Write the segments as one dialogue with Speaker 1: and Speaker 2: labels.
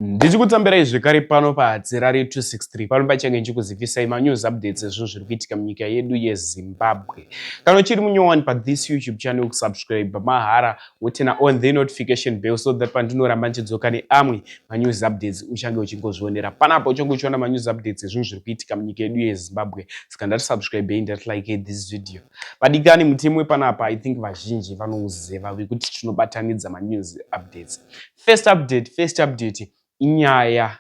Speaker 1: Ndichikutsambirai zvekare pano paHadzirari 263 pano pachange ndichikuzivisai manews updates ezvinhu zviri kuitika munyika yedu yeZimbabwe. Kana uchiri munyowani pathis YouTube channel kusubscribe mahara wotena on the notification bell so that pandinoramba ndichidzoka neamwe manews updates uchange uchingozvionera panapa uchange uchiona manews updates ezvinhu zviri kuitika munyika yedu yeZimbabwe saka ndati subscribe hei ndati like this video. Vadikani mutemo wepanapa I think vazhinji vanouziva vekuti tinobatanidza manews updates. First update, first update inyaya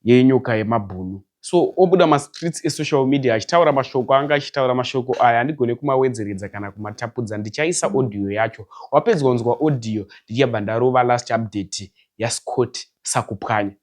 Speaker 1: yenyoka yemabhunu. So obuda mastreets esocial media achitaura mashoko anga achitaura mashoko aya handigone kumawedzeredza kana kumatapudza ndichaisa audio yacho. Wapedza kunzwa audio ndichabva ndarova last update yaScott Sakupwanya.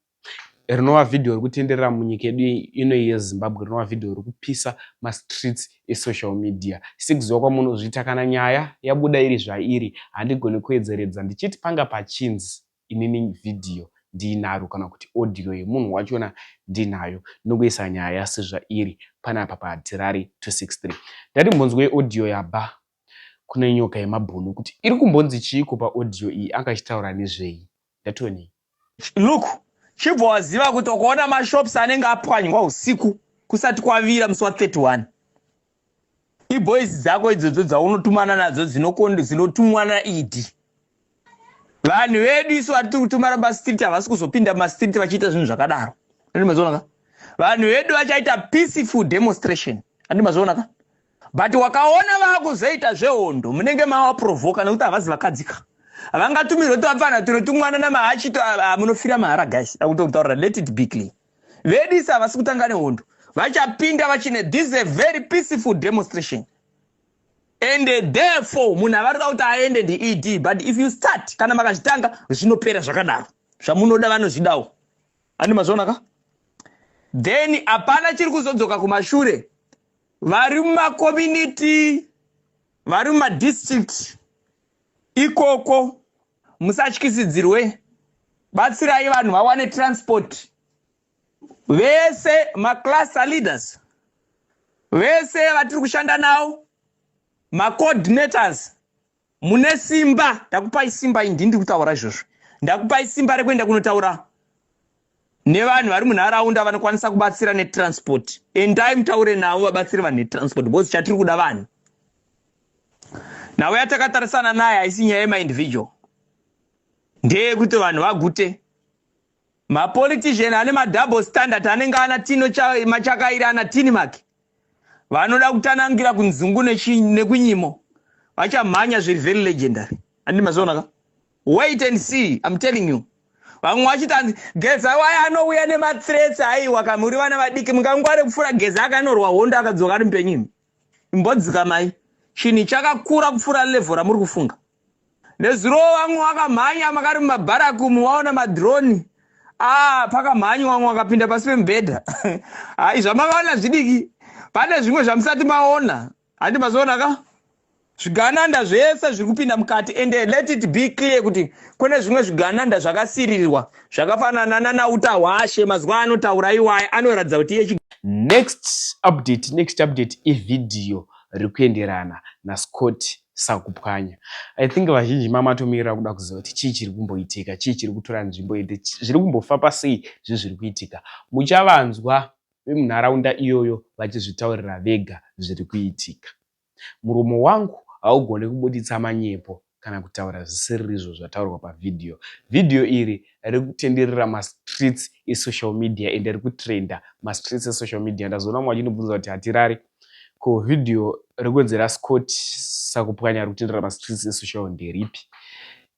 Speaker 1: rinova vhidhiyo rikutenderera munyika yedu ino yezimbabwe rinova vhidhiyo rikupisa mastreets esocial media sekuziva kwamunozviita kana nyaya yabuda iri zvairi handigone kuedzeredza ndichiti panga pachinzi inini vhidhiyo ndiinaro kana kuti audio yemunhu wachona ndinayo ndinongoisa nyaya sezvairi panapa pahatirari 263 ndati mbonzwei audio yabva kune nyoka yemabhunu kuti iri kumbonzi chiiko paaudio iyi anga achitaura nezvei ndationei Look
Speaker 2: chibva waziva kuti ukaona mashops anenge apwanywa usiku kusati kwavira musi wa 31 iboys dzako idzodzo dzaunotumana nadzo dzinotumwa naed vanhu vedu isu vatiri kutumana mastreet havasi kuzopinda mastreet vachiita zvinhu zvakadaro andimazionaka vanhu vedu vachaita peaceful demonstration andimazionaka but wakaona vakuzoita zvehondo munenge mawa provoka nekuti havazi vakadzika vangatumirwe tuvapfana tuno tumwana namahachito munofira mahara guys akutokutaurira let it be clear vedisa havasi kutanga nehondo vachapinda vachine this is a very peaceful demonstration and therefore munhu avarida kuti aende ndied but if you start kana makazvitanga zvinopera zvakadaro zvamunoda vanozvidawo andi mazvionaka then hapana chiri kuzodzoka kumashure vari mumakomuniti vari mumadistrict ikoko musatyisidzirwe batsirai vanhu vawane transport vese maclaster leaders vese vatiri kushanda nawo macoordinators mune simba ndakupai simba indi ndiri kutaura izvozvo ndakupai simba rekuenda kunotaura nevanhu vari munharaunda vanokwanisa kubatsira netransport endai mutaure navo vabatsire vanhu netransport because chatiri kuda vanhu nhau yatakatarisana naye haisi nyaya yemaindividual ndeyekuti vanhu vagute Mapolitician ane madouble standard anenge ana Tino Machakairi ana Tinimark vanoda kutanangira kunzungu nekunyimo vachamhanya zviri very legendary andi mazoona ka wait and see im telling you vamwe vachiti anzi geza waya anouya nemathreats aiwa kamuri vana vadiki mungangware kupfuura geza akanorwa hondo akadzoka ari mupenyimi imbodzikamai chinhu chakakura kupfuura level ramuri kufunga nezuro vamwe wakamhanya makari mumabharakumu waona madroni ah pakamhanyi wamwe wakapinda pasi pemubhedha hai zvamakaona zvidiki pane zvimwe zvamusati maona handi mazoona ka Zvigananda zvese zviri kupinda mukati and let it be clear kuti kune zvimwe zvigananda zvakasiririrwa zvakafanana nanauta hwashe mazuva anotaura iwaye anoratidza kuti iye Next
Speaker 1: update, next update ivideo rikuenderana naScott Sakupwanya. I think vazhinji mamatomirira kuda kuziva kuti chii chiri kumboitika, chii chiri kutora nzvimbo ende zviri kumbofamba sei zvinhu zviri kuitika. Muchavanzwa vemunharaunda iyoyo vachizvitaurira vega zviri kuitika. Muromo wangu haugone kubuditsa manyepo kana kutaura zvisiririzvo zvataurwa pavhidhiyo. Vhidhiyo iri rikutenderera mastreets esocial media ende rikutrenda mastreets esocial media. Ndazoona mumwe achinobvunza kuti hatirari ko vhidhiyo rekwenzera Scott sakupwanya rikutenderera mastreets esocial nderipi?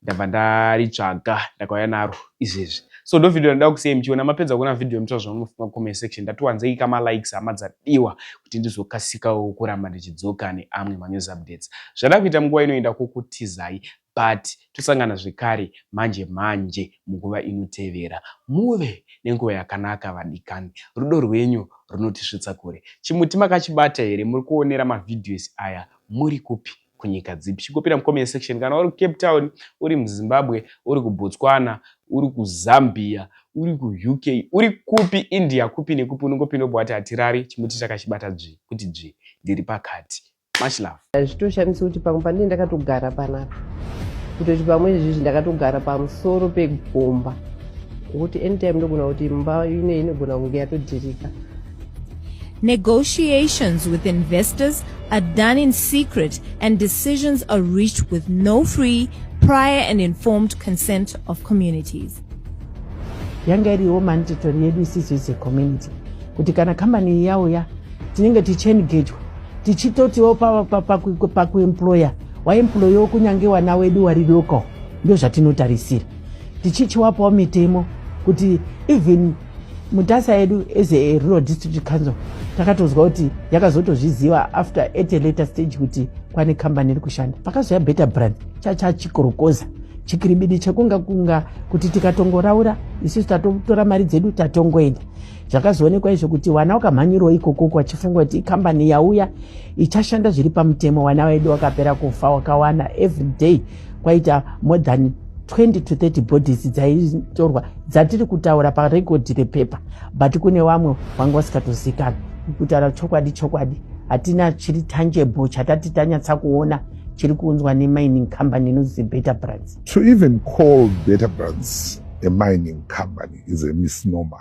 Speaker 1: ndabva ndaritsvaga ndakauya naro izvezvi so ndo video ndoda kusiyai muchiona mapedza kuona video mutora zvamunofunga comment section ndatiwanzei kama likes hama dzadiwa kuti ndizokasikawo kuramba ndichidzoka neamwe manews updates zvada kuita munguva inoenda kukutizai but tosangana zvekare manje manje munguva inotevera muve nenguva yakanaka vadikani rudo rwenyu runotisvitsa kure chimuti makachibata here muri kuonera mavhidhios aya muri kupi kunyika dzipi chikopira mucomment section kana uri kucape town uri muzimbabwe uri kubotswana uri kuzambia uri kuuk uri kupi india kupi nekupi unongopinda ubva wati hatirari chimuti chakachibata dzvi kuti dzvi ndiri pakati much love zvitoshamisa kuti pamwe
Speaker 3: pandine ndakatogara panapa kutoti pamwe izvizvi ndakatogara pamusoro pegomba kuti anytime ndogona kuti mba ine inogona kunge yatodhirika Negotiations
Speaker 4: with investors are done in secret and decisions are reached with no free, prior and informed consent of communities.
Speaker 3: yanga iriwo mandatory yedu isisu ise community kuti kana kambani iyi yauya tinenge tichiengejwa tichitotiwo pakuemploya waemployewo kunyange wana wedu wari local ndo zvatinotarisira tichichiwapawo mitemo kuti even mutasa yedu as a rural district council takatonzwa kuti yakazotozviziva after at a later stage kuti kwane kambani iri kushanda pakazouya better brand chachachikorokoza chikiribidi chekunga kunga kuti tikatongoraura isusu tatotora mari dzedu tatongoenda zvakazoonekwa izvo kuti wana wakamhanyirwa ikokoko wachifunga kuti ikambani yauya ichashanda zviri pamutemo wana wedu wakapera kufa wakawana every day kwaita more than 20 to 30 bodies dzaitorwa dzatiri kutaura parekodhi repepa but kune vamwe vanga vasikatozikana kutaura chokwadi chokwadi hatina chiri tangible chatati tanyatsa kuona chiri kuunzwa nemining company inonzi better brands to even call
Speaker 5: better brands a mining company is a misnomer